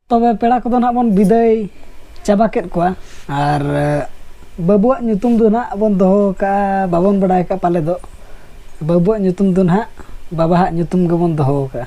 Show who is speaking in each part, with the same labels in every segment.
Speaker 1: ᱛᱚᱵᱮ ᱯᱮᱲᱟ ᱠᱚᱫᱚ ᱱᱟᱦᱟᱜ ᱵᱚᱱ ᱵᱤᱫᱟᱹᱭ ᱪᱟᱵᱟ ᱠᱮᱫ ᱠᱚᱣᱟ ᱟᱨ ᱵᱟᱹᱵᱩᱣᱟᱜ ᱧᱩᱛᱩᱢ ᱫᱚ ᱱᱟᱦᱟᱜ ᱵᱚᱱ ᱫᱚᱦᱚ ᱟᱠᱟᱫᱼᱟ ᱵᱟᱵᱚᱱ ᱵᱟᱰᱟᱭ ᱟᱠᱟᱫᱼᱟ ᱯᱟᱞᱮ ᱫᱚ ᱵᱟᱹᱵᱩᱣᱟᱜ ᱧᱩᱛᱩᱢ ᱫᱚ ᱱᱟᱦᱟᱜ ᱵᱟᱵᱟᱣᱟᱜ ᱧᱩᱛᱩᱢ ᱜᱮᱵᱚᱱ ᱫᱚᱦᱚ ᱟᱠᱟᱫᱼᱟ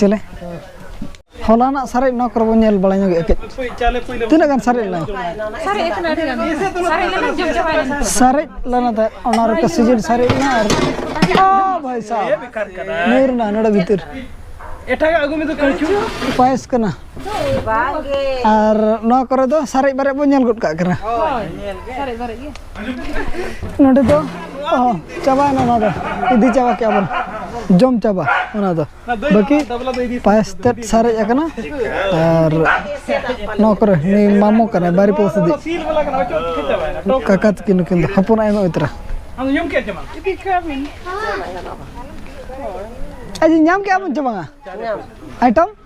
Speaker 1: ᱪᱮᱞᱮ ᱦᱚᱞᱟᱱᱟᱜ ᱥᱟᱨᱮᱡ ᱱᱚᱣᱟ ᱠᱚᱨᱮ ᱵᱚᱱ ᱧᱮᱞ ᱵᱟᱲᱟ ᱧᱚᱜ ᱮᱠᱮᱡ ᱛᱤᱱᱟᱹᱜ ᱜᱟᱱ ᱥᱟᱨᱮᱡ ᱞᱮᱱᱟ ᱥᱟᱨᱮᱡ ᱞᱮᱱᱟ ᱛᱟᱦᱮᱸᱫ ᱚᱱᱟ ᱨᱮ ᱥᱤᱡᱤᱱ ᱥᱟᱨᱮᱡ ᱞᱮᱱᱟ ᱟᱨ ᱵᱷᱟᱭ ᱥᱟᱦᱮᱵ ᱧᱩᱨ ᱮᱱᱟ ᱱᱚᱰᱮ ᱵᱷᱤᱛᱤᱨ ᱮᱴᱟᱜᱟᱜ ᱟᱹᱜᱩ ᱢᱮ ᱫᱚ ᱠᱟᱹᱪᱩ ᱯᱟᱭᱮᱥ ᱠᱟᱱᱟ ᱟᱨ ᱱᱚᱣᱟ ᱠᱚᱨᱮ ᱫᱚ ᱥᱟᱨᱮᱡ ᱵᱟᱨᱮᱡ ᱵᱚᱱ ᱧᱮᱞ ᱜᱚᱫ ᱠᱟᱜ ᱠᱟᱱᱟ ᱱᱚᱰᱮ ᱫᱚ ᱪᱟᱵᱟᱭᱮᱱᱟ ᱚᱱᱟ ᱫᱚ ᱤᱫᱤ ᱪᱟᱵᱟ ᱠᱮᱜᱼᱟ ᱵᱚᱱ ᱡᱚᱢ ᱪᱟᱵᱟ ᱚᱱᱟ ᱫᱚ ᱵᱟᱹᱠᱤ ᱯᱟᱭᱮᱥ ᱛᱮᱫ ᱥᱟᱨᱮᱡ ᱟᱠᱟᱱᱟ ᱟᱨ ᱱᱚᱣᱟ ᱠᱚᱨᱮ ᱱᱩᱭ ᱢᱟᱢᱚ ᱠᱟᱱᱟᱭ ᱵᱟᱨᱤ ᱯᱚᱥᱤᱫᱤ ᱠᱟᱠᱟ ᱛᱟᱹᱠᱤᱱ ᱱᱩᱠᱤᱱ ᱫᱚ ᱦᱚᱯᱚᱱ ᱟᱭᱢᱟ ᱩᱛᱨᱟ ᱟᱡᱤᱧ ᱧᱟᱢ ᱠᱮᱜᱼᱟ ᱵᱚᱱ ᱪᱮ ᱵᱟᱝᱟ ᱟᱭᱴᱚᱢ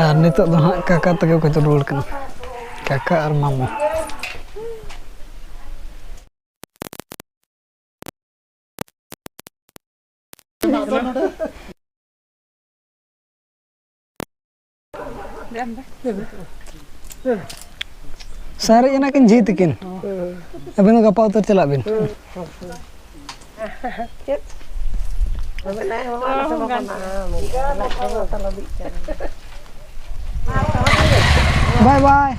Speaker 1: ᱟᱨ ᱱᱤᱛᱚᱜ ᱫᱚ ᱦᱟᱸᱜ ᱠᱟᱠᱟ ᱛᱮᱜᱮ ᱠᱚ ᱨᱩᱣᱟᱹᱲ ᱠᱟᱱᱟ ᱠᱟᱠᱟ ᱟᱨ ᱢᱟᱢᱚ ᱥᱟᱨᱮᱡ ᱮᱱᱟ ᱠᱤᱱ ᱡᱷᱤ ᱛᱤᱠᱤᱱ ᱟᱵᱮᱱ ᱫᱚ ᱜᱟᱯᱟ ᱩᱛᱟᱹᱨ ᱪᱟᱞᱟᱜ ᱵᱤᱱ ᱪᱮᱫ ᱵᱟᱭ ᱵᱟᱭ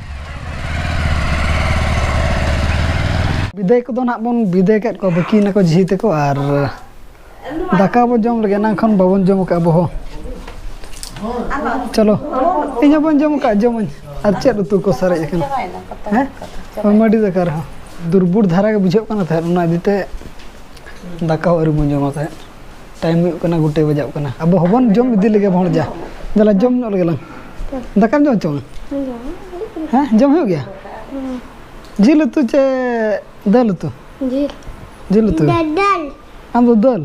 Speaker 1: ᱵᱤᱫᱟᱹᱭ ᱠᱚᱫᱚ ᱱᱟᱦᱟᱜ ᱵᱚᱱ ᱵᱤᱫᱟᱹᱭ ᱠᱮᱫ ᱠᱚᱣᱟ ᱵᱟᱹᱠᱤ ᱱᱟᱠᱚ ᱡᱷᱤ ᱛᱮᱠᱚ ᱟᱨ ᱫᱟᱠᱟ ᱵᱚᱱ ᱡᱚᱢ ᱞᱟᱹᱜᱤᱫ ᱮᱱᱟᱝ ᱠᱷᱚᱱ ᱵᱟᱵᱚᱱ ᱡᱚᱢ ᱟᱠᱟᱫ ᱟᱵᱚ ᱦᱚᱸ ᱪᱚᱞᱚ ᱤᱧ ᱦᱚᱸ ᱵᱟᱹᱧ ᱡᱚᱢ ᱟᱠᱟᱫ ᱡᱚᱢᱟᱹᱧ ᱟᱨ ᱪᱮᱫ ᱩᱛᱩ ᱠᱚ ᱥᱟᱨᱮᱡ ᱟᱠᱟᱱᱟ ᱦᱮᱸ ᱢᱟᱹᱰᱤ ᱫᱟᱠᱟ ᱨᱮᱦᱚᱸ ᱫᱩᱨᱵᱩᱲ ᱫᱷᱟᱨᱟ ᱜᱮ ᱵᱩᱡᱷᱟᱹᱜ ᱠᱟᱱᱟ ᱛᱟᱦᱮᱸᱫ ᱚᱱᱟ ᱤᱫᱤᱛᱮ ᱫᱟᱠᱟ ᱦᱚᱸ ᱟᱹᱣᱨᱤ ᱵᱚᱱ ᱡᱚᱢᱟ ᱛᱟᱦᱮᱸᱫ ᱴᱟᱭᱤᱢ ᱦᱩᱭᱩᱜ ᱠᱟᱱᱟ ᱜᱩᱴᱮ ᱵᱟᱡᱟᱜ ᱠᱟᱱᱟ ᱟᱵᱚ ᱦᱚᱸᱵᱚᱱ ᱡᱚᱢ ᱤᱫᱤ ᱞᱮᱜᱮ ᱦᱚᱲ ᱡᱟ ᱫᱟᱞᱟ ᱡᱚᱢ ᱧᱚᱜ ᱞᱮᱜᱮ ᱞᱟᱝ ᱫᱟᱠᱟᱢ ᱡᱚᱢ ᱪᱚᱝ ᱦᱮᱸ ᱡᱚᱢ ᱦᱩᱭᱩᱜ ᱜᱮᱭᱟ ᱡᱤᱞ ᱩᱛᱩ ᱪᱮ ᱫᱟᱹᱞ ᱩᱛᱩ ᱡᱤᱞ ᱡᱤᱞ ᱩᱛᱩ ᱫᱟᱞ ᱟᱢ ᱫᱚ ᱫᱟᱹᱞ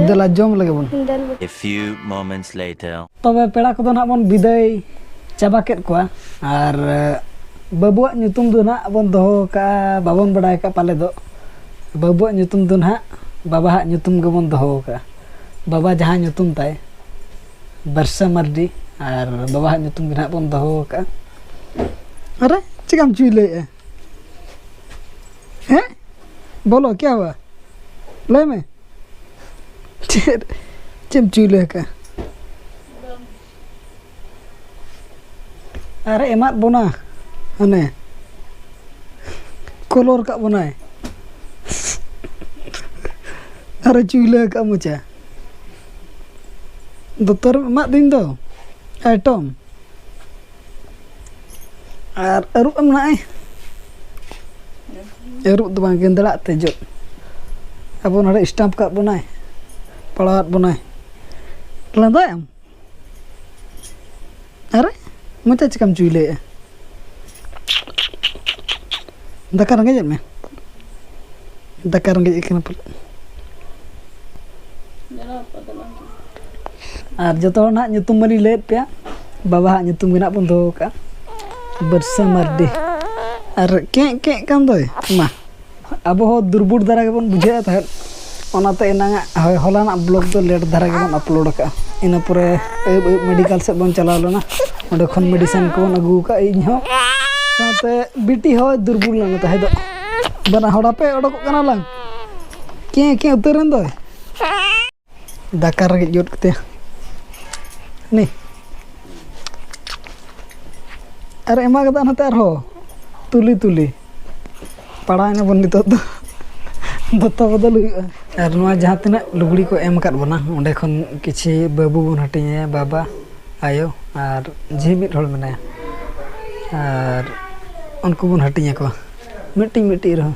Speaker 1: ᱫᱟᱞᱟ ᱡᱚᱢ ᱞᱮᱜᱮ ᱵᱚᱱ A few
Speaker 2: moments later ᱛᱚᱵᱮ ᱯᱮᱲᱟ ᱠᱚᱫᱚ ᱱᱟᱜ
Speaker 1: ᱵᱚᱱ ᱵᱤᱫᱟᱹᱭ ᱪᱟᱵᱟ ᱠᱮᱫ ᱠᱚᱣᱟ ᱟᱨ ᱵᱟᱹᱵᱩᱣᱟᱜ ᱧᱩᱛᱩᱢ ᱫᱚ ᱱᱟᱜ ᱵᱚᱱ ᱫᱚᱦᱚ ᱠᱟᱜᱼᱟ ᱵᱟᱵᱚᱱ ᱵᱟᱰᱟᱭ ᱠᱟᱜᱼᱟ ᱯᱟᱞᱮ ᱫᱚ ᱵᱟᱹᱵᱩᱣᱟᱜ ᱧᱩᱛᱩᱢ ᱫᱚ ᱱᱟᱦᱟᱜ ᱵᱟᱵᱟᱣᱟᱜ ᱧᱩᱛᱩᱢ ᱜᱮᱵᱚᱱ ᱫᱚᱦᱚ ᱟᱠᱟᱫᱼᱟ ᱵᱟᱵᱟ ᱡᱟᱦᱟᱸ ᱧᱩᱛᱩᱢ ᱛᱟᱭ ᱵᱟᱹᱨᱥᱟᱹ ᱢᱟᱹᱨᱰᱤ ᱟᱨ ᱵᱟᱵᱟᱣᱟᱜ ᱧᱩᱛᱩᱢ ᱜᱮ ᱱᱟᱦᱟᱜ ᱵᱚᱱ ᱫᱚᱦᱚ ᱟᱠᱟᱫᱼᱟ ᱟᱨᱮ ᱪᱮᱠᱟᱢ ᱪᱩᱭᱞᱟᱹᱭᱮᱫᱼᱟ ᱦᱮᱸ ᱵᱚᱞᱚ ᱠᱮᱭᱟ ᱵᱟ ᱞᱟᱹᱭ ᱢᱮ ᱪᱮᱫ ᱪᱮᱫ ᱮᱢ ᱪᱩᱭᱞᱟᱹ ᱟᱠᱟᱫᱼᱟ ᱟᱨ ᱮᱢᱟᱫ ᱵᱚᱱᱟ ᱦᱟᱱᱮ ᱠᱚᱞᱚᱨ ᱠᱟᱜ ᱵᱚᱱᱟᱭ ᱟᱨ ᱪᱩᱭᱞᱟᱹ ᱠᱟᱜ ᱢᱚᱪᱟ ᱫᱚᱛᱚᱨ ᱮᱢᱟᱜ ᱫᱤᱱ ᱫᱚ ᱟᱭᱴᱚᱢ ᱟᱨ ᱟᱹᱨᱩᱵ ᱮᱢ ᱱᱟᱭ ᱟᱹᱨᱩᱵ ᱫᱚ ᱵᱟᱝ ᱜᱮᱸᱫᱲᱟᱜ ᱛᱮ ᱡᱚᱜ ᱟᱵᱚ ᱱᱚᱰᱮ ᱥᱴᱟᱢᱯ ᱠᱟᱜ ᱵᱚᱱᱟᱭ ᱯᱟᱲᱟᱣᱟᱫ ᱵᱚᱱᱟᱭ ᱞᱟᱸᱫᱟᱭᱟᱢ ᱟᱨᱮ ᱢᱚᱪᱟ ᱪᱤᱠᱟᱹᱢ ᱪᱩᱭᱞᱟᱹᱭᱮᱜᱼᱟ ᱫᱟᱠᱟ ᱨᱮᱸᱜᱮᱡᱮᱫ ᱢᱮ ᱫᱟᱠᱟ ᱨᱮᱸᱜᱮᱡ ᱠᱟᱱᱟ ᱯᱟᱞᱮ ᱟᱨ ᱡᱚᱛᱚ ᱦᱚᱲ ᱱᱟᱦᱟᱜ ᱧᱩᱛᱩᱢ ᱢᱟᱞᱤᱧ ᱞᱟᱹᱭᱮᱫ ᱯᱮᱭᱟ ᱵᱟᱵᱟᱣᱟᱜ ᱧᱩᱛᱩᱢ ᱜᱮ ᱱᱟᱦᱟᱜ ᱵᱚᱱ ᱫᱚᱦᱚ ᱠᱟᱜᱼᱟ ᱵᱟᱹᱨᱥᱟᱹ ᱢᱟᱨᱰᱤ ᱟᱨ ᱠᱮᱸᱜ ᱠᱮᱸᱜ ᱠᱟᱱ ᱫᱚᱭ ᱢᱟ ᱟᱵᱚ ᱦᱚᱸ ᱫᱩᱨᱵᱩᱴ ᱫᱷᱟᱨᱟ ᱜᱮᱵᱚᱱ ᱵᱩᱡᱷᱟᱹᱣᱮᱫ ᱛᱟᱦᱮᱸᱫ ᱚᱱᱟᱛᱮ ᱮᱱᱟᱝᱟᱜ ᱦᱳᱭ ᱦᱚᱞᱟᱱᱟᱜ ᱵᱞᱚᱜᱽ ᱫᱚ ᱞᱮᱴ ᱫᱷᱟᱨᱟ ᱜᱮᱵᱚᱱ ᱟᱯᱞᱳᱰ ᱟᱠᱟᱫᱼᱟ ᱤᱱᱟᱹ ᱯᱚᱨᱮ ᱟᱹᱭᱩᱵ ᱟᱹᱭᱩᱵ ᱢᱮᱰᱤᱠᱮᱞ ᱥᱮᱫ ᱵᱚᱱ ᱪᱟᱞᱟᱣ ᱞᱮᱱᱟ ᱚᱸᱰᱮ ᱠᱷᱚᱱ ᱢᱮᱰᱤᱥᱤᱱ ᱠᱚᱵᱚᱱ ᱟᱹᱜᱩ ᱟᱠᱟᱫᱼᱟ ᱤᱧ ᱦᱚᱸ ᱥᱟᱶᱛᱮ ᱵᱤᱴᱤ ᱦᱚᱸ ᱫᱩᱨᱵᱚᱞ ᱞᱮᱱᱟ ᱛᱟᱦᱮᱸ ᱫᱚ ᱵᱟᱱᱟ ᱦᱚᱲ ᱟᱯᱮ ᱚᱰᱚᱠᱚᱜ ᱠᱟᱱᱟ ᱞᱟᱝ ᱠᱮᱸ ᱠᱮᱸ ᱩᱛᱟᱹᱨᱮᱱ ᱫᱚᱭ ᱫᱟᱠᱟ ᱨᱮᱜᱮᱡ ᱜᱚᱫ ᱠᱟᱛᱮ ᱱᱤ ᱟᱨ ᱮᱢᱟ ᱠᱟᱫᱟ ᱱᱚᱛᱮ ᱟᱨᱦᱚᱸ ᱛᱩᱞᱤ ᱛᱩᱞᱤ ᱯᱟᱲᱟᱣ ᱮᱱᱟᱵᱚᱱ ᱱᱤᱛᱚᱜ ᱫᱚ ᱫᱚᱛᱚ ᱵᱚᱫᱚᱞ ᱦᱩᱭᱩᱜᱼᱟ ᱟᱨ ᱱᱚᱣᱟ ᱡᱟᱦᱟᱸ ᱛᱤᱱᱟᱹᱜ ᱞᱩᱜᱽᱲᱤ ᱠᱚ ᱮᱢ ᱟᱠᱟᱫ ᱵᱚᱱᱟ ᱚᱸᱰᱮ ᱠᱷᱚᱱ ᱠᱤᱪᱷᱩ ᱵᱟᱹᱵᱩ ᱵᱚᱱ ᱦᱟᱹᱴᱤᱧᱟᱭᱟ ᱵᱟᱵᱟ ᱟᱭᱳ ᱟᱨ ᱡᱷᱤ ᱢᱤᱫ ᱦᱚᱲ ᱢᱮᱱᱟᱭᱟ ᱟᱨ ᱩᱱᱠᱩ ᱵᱚᱱ ᱦᱟᱹᱴᱤᱧ ᱟᱠᱚᱣᱟ ᱢᱤᱫᱴᱤᱡ ᱢᱤᱫᱴᱤᱡ ᱨᱮᱦᱚᱸ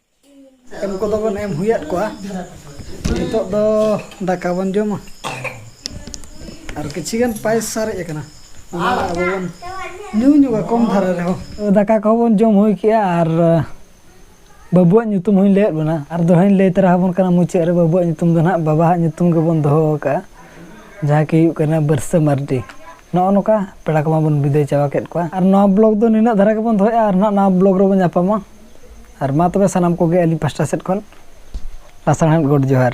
Speaker 1: ᱮᱢ ᱠᱚᱫᱚ ᱵᱚᱱ ᱮᱢ ᱦᱩᱭᱟᱫ ᱠᱚᱣᱟ ᱱᱤᱛᱚᱜ ᱫᱚ ᱫᱟᱠᱟ ᱵᱚᱱ ᱡᱚᱢᱟ ᱟᱨ ᱠᱤᱪᱷᱤ ᱜᱟᱱ ᱯᱟᱭᱮᱥ ᱥᱟᱨᱮᱡ ᱟᱠᱟᱱᱟ ᱚᱱᱟ ᱟᱵᱚ ᱵᱚᱱ ᱧᱩ ᱧᱚᱜᱟ ᱠᱚᱢ ᱫᱷᱟᱨᱟ ᱨᱮᱦᱚᱸ ᱫᱟᱠᱟ ᱠᱚᱦᱚᱸ ᱵᱚᱱ ᱡᱚᱢ ᱦᱩᱭ ᱠᱮᱜᱼᱟ ᱟᱨ ᱵᱟᱹᱵᱩᱣᱟᱜ ᱧᱩᱛᱩᱢ ᱦᱚᱸᱧ ᱞᱟᱹᱭᱟᱫ ᱵᱚᱱᱟ ᱟᱨ ᱫᱚᱦᱲᱟᱧ ᱞᱟᱹᱭ ᱛᱚᱨᱟ ᱟᱵᱚᱱ ᱠᱟᱱᱟ ᱢᱩᱪᱟᱹᱫ ᱨᱮ ᱵᱟᱹᱵᱩᱣᱟᱜ ᱧᱩᱛᱩᱢ ᱫᱚ ᱱᱟᱦᱟᱜ ᱵᱟᱵᱟᱣᱟᱜ ᱧᱩᱛᱩᱢ ᱜᱮᱵᱚᱱ ᱫᱚᱦᱚ ᱟᱠᱟᱫᱼᱟ ᱡᱟᱦᱟᱸ ᱠᱤ ᱦᱩᱭᱩᱜ ᱠᱟᱱᱟ ᱵᱟᱹᱨᱥᱟᱹ ᱢᱟᱨᱰᱤ ᱱᱚᱜᱼᱚ ᱱᱚᱝᱠᱟ ᱯᱮᱲᱟ ᱠᱚᱢᱟ ᱵᱚᱱ ᱵᱤᱫᱟᱹᱭ ᱪᱟᱵᱟ ᱠᱮᱫ ᱠᱚᱣᱟ ᱟᱨ ᱱᱚᱣᱟ ᱵᱞᱚᱜᱽ ᱫᱚ ᱱᱤᱱᱟᱹᱜ ᱫᱷᱟᱨᱟ ᱜᱮᱵᱚᱱ ᱫᱚᱦᱚᱭᱮᱫᱼᱟ ᱟᱨ ᱱᱟᱦᱟᱜ ᱱᱟᱣᱟ ᱵᱞᱚᱜᱽ ᱨᱮᱵᱚᱱ ᱧᱟᱯᱟᱢᱟ ᱟᱨ ᱢᱟ ᱛᱚᱵᱮ ᱥᱟᱱᱟᱢ ᱠᱚᱜᱮ ᱟᱹᱞᱤᱧ ᱯᱟᱥᱴᱟ ᱥᱮᱫ ᱠᱷᱚᱱ ᱞᱟᱥᱟᱬᱦᱮᱫ ᱜᱚᱰ ᱡᱚᱦᱟᱨ